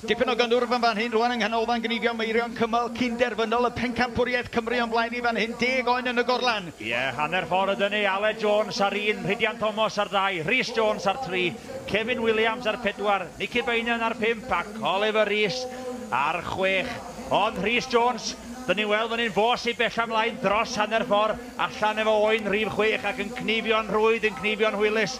Dipyn o gyndwrf yn fan hyn rwan yng nghanolfan gnifio Meirion cymal cyn-derfynol y Pencampwriaeth Cymru o'n blaen ni fan hyn, deg oen yn y gorlan. Ie, hanner ffordd ydyn ni, Aled Jones ar un, Rhidian Thomas ar ddau, Rhys Jones ar tri, Kevin Williams ar pedwar, Nicky Beynon ar pump ac Oliver Rees ar chwech. Ond Rhys Jones, dyn ni'n weld fan hyn fos i bella mlaen dros hanner ffordd. Allan efo oen rhif chwech ac yn cnifio'n rhwydd yn cnifio'n hwylus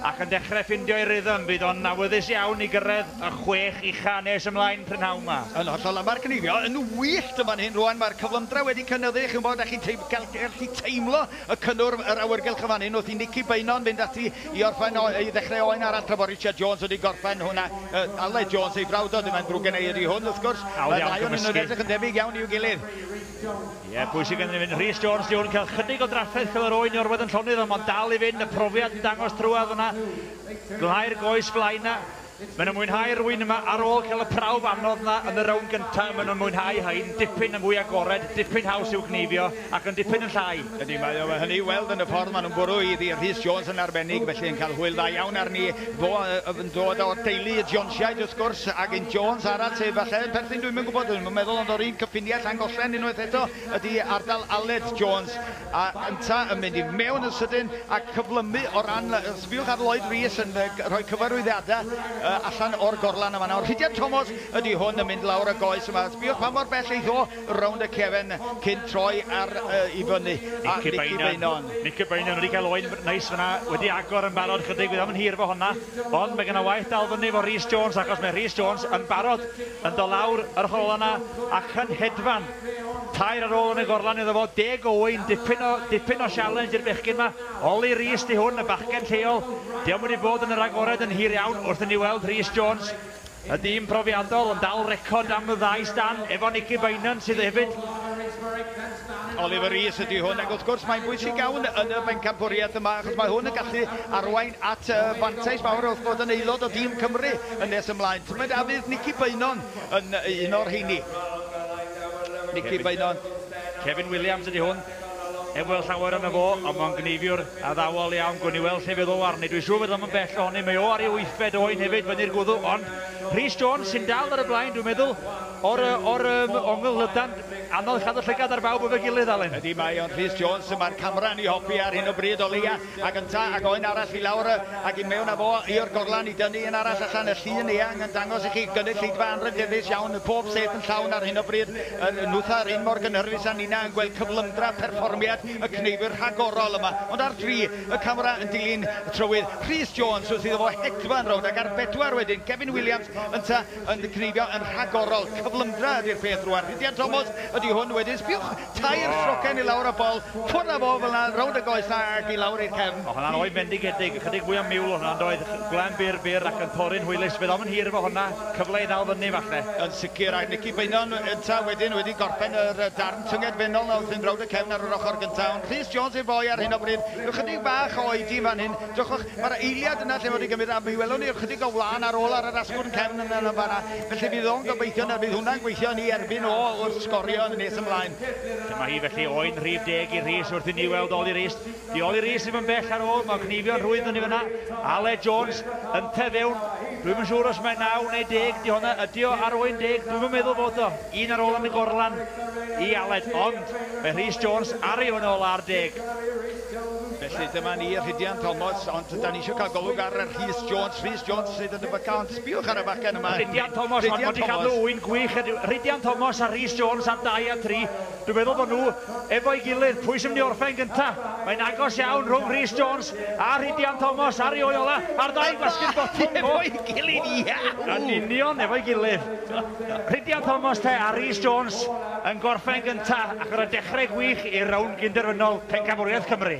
ac yn dechre ffindio'i rythm fydd o'n awyddus iawn i gyrredd y chwech ucha nes ymlaen prynhawn ma. Yn hollol a ma'r cnifio yn wyllt yn fan hyn rwan ma'r cyflymdra wedi cynyddu chi'n wbod a chi'n teim- gal- gallu teimlo y cynnwrf yr awyrgylch yn fan hyn wrth i Nicky Beynon fynd ati i orffen o- i ddechre oen arall tra bo Richard Jones wedi gorffen hwnna yy Aled Jones ei frawd o dyma'n ddrwg gennai ydi hwn wrth gwrs Hawdd iawn cymysgu. Mae y ddau onyn nhw'n edrych yn debyg iawn i'w gilydd. Ie, pwy sydd gennym yn Rhys Jones, Duw yn cael chydig o drafferth fel yr oen i orwedd yn llonydd, ond mae'n dal i fynd, y profiad yn dangos trwad fyna, glhau'r goes flaen na. Maen nhw'n mwynhau rwy'n yma ar ôl cael y prawf anodd na yn y rownd gyntaf, maen nhw'n mwynhau hein, dipyn yn fwy agored, dipyn haws i'w gneifio, ac yn dipyn yn llai. Ydy, mae o, mae hynny i weld yn y ffordd maen nhw'n bwrw i ddi, Rhys Jones yn arbennig, felly yn cael hwyl dda iawn arni, fo yn dod o'r deulu y Jonesiaid wrth gwrs, ac un Jones arall sydd falle yn perthyn, dwi'm yn gwybod, Yn meddwl ond o'r un cyffiniau Llangollen unwaith eto ydi ardal Aled Jones a ynta yn mynd i mewn yn sydyn a cyflymu o ran, sbiwch ar Lloyd Rees yn rhoi cyfarwyddiadau allan o'r gorlan yn fan'na ond Rhidian Tomos ydi hwn yn mynd lawr y goes yma, sbiwch pa mor bell eith o rownd y cefen cyn troi ar i fyny a Nici Beynon. Nici Beynon wedi cael oen neis fan'na, wedi agor yn barod chydig fydd o'm yn hir efo honna ond mae gen o waith dal fyny efo Rees Jones achos mae Rees Jones yn barod yn dod lawr yr hol yna a chyn hedfan tair ar ôl yn y gorlan iddo fo, Deg Owain, dipyn o, dipyn o sialens i'r bechgyn yma, Oli Rees di hwn, y bachgen lleol, diom wedi bod yn yr agored yn hir iawn wrth i ni weld Rhys Jones, y dyn profiadol yn dal record am y ddau stan efo Nicky Beynon sydd hefyd Oliver Rees ydy hwn, ac wrth gwrs mae'n bwysig iawn yn y bencampwriaeth yma, achos mae hwn yn gallu arwain at uh, fantais mawr wrth bod yn aelod o dîm Cymru yn nes ymlaen. Tymed a fydd Nicky Beynon yn un o'r heini. Nicky Beynon. Kevin Williams ydy hwn. Heb weld llawer yna fo, ond mae'n gneifiwr addawol iawn. Gwn i weld lle fydd o arni. Dwi'n siŵr fydd o'n bell ohoni. Mae o ar ei wythfed oen hefyd, fyny'r gwddw. Ond Rhys Jones sy'n dal ar y blaen, dwi'n meddwl, o'r, o'r um, ongl lydan. Anodd cadw llygad ar bawb efo'i gilydd, Alun. Ydy, mae o'n Rhys Jones y mae'r camera yn ei hopi ar hyn o bryd o leia, ac ynta, ac o un arall i lawr ac i mewn a fo i'r gorlan i dynnu un arall allan, y llun eang yn dangos i chi gynulleidfa anrhydeddus iawn, y pob set yn llawn ar hyn o bryd, yr nwtha yr un mor gynhyrfus a ninna yn gweld cyflymdra perfformiad y cneifwyr rhagorol yma, ond ar dri, y camera yn dilyn trywydd Rhys Jones wrth iddo fo hedfan rownd ac ar bedwar wedyn Kevin Williams ynta, yn disgrifio yn rhagorol. Cyflymdra ydy'r peth rwan. Rhidian Tomos ydy hwn wedyn. Sbiwch tair ffrocen i lawr y bol. Ffwrdd a fo fel 'na rownd y goesau ac i lawr i'r cefn. O hwnna'n oen fendigedig. Ychydig fwy o miwl o hwnna yndoedd? Gwlem byr byr ac yn torri'n hwylus. Fe ddaw'n hir efo hwnna. Cyfle i ddal fyny falle. Yn sicr. A Nici Beynon ynta wedyn wedi gorffen yr darn tynged fennol 'na wrth fynd rownd y cefn ar yr ochr gynta. Ond Rhys Jones yw'r foi ar hyn o bryd. Rhyw chydig bach o oedi yn fan hyn. Diolch. Mae'r eiliad yna lle fod hi'n cymryd a mi welwn ni ychydig o wlân ar ôl ar yr asgwrn cefn yn yn fan'na. Felly fydd o'n gobeithio na fydd hwnna'n gweithio yn ei erbyn o wrth sgorio yn y nes ymlaen. Dyma hi felly, oen rhif deg i Rhys wrth i ni weld Oli Rees. Di Oli Rees ddim yn bell ar ôl, mae'n cneifio'n rhwydd fyny fan'na. Aled Jones yn te fewn. Dwi'm yn siŵr os mae naw neu deg di honna. Ydi o ar oen deg? Dwi'm yn meddwl fod o. Un ar ôl yn y gorlan i Aled, ond mae Rhys Jones ar ei oen ola ar deg. Felly dyma ni, Rhydian Thomas, ond da ni eisiau cael golwg ar Rhys Jones. Rhys Jones sydd yn y byca, ond sbiwch ar y bachgen yma. Rhydian Thomas, ond wedi cadw ŵyn gwych heddiw. Rhydian Thomas a Rhys Jones ar 2 a 3. Dwi'n meddwl bod nhw efo'i gilydd. Pwy sy'n mynd i orffen gyntaf? Mae'n agos iawn rhwng Rhys Jones a Rhydian Thomas ar ei ôl ola, a'r ddau'n gwasgu'r botwm. Efo'i gilydd, iau! Yn union, efo'i gilydd. Rhydian Thomas te a Rhys Jones yn gorffen gyntaf, ac ar y dechrau gwych, i'r rownd gyn-derfynol Pencampwriaeth Cymru.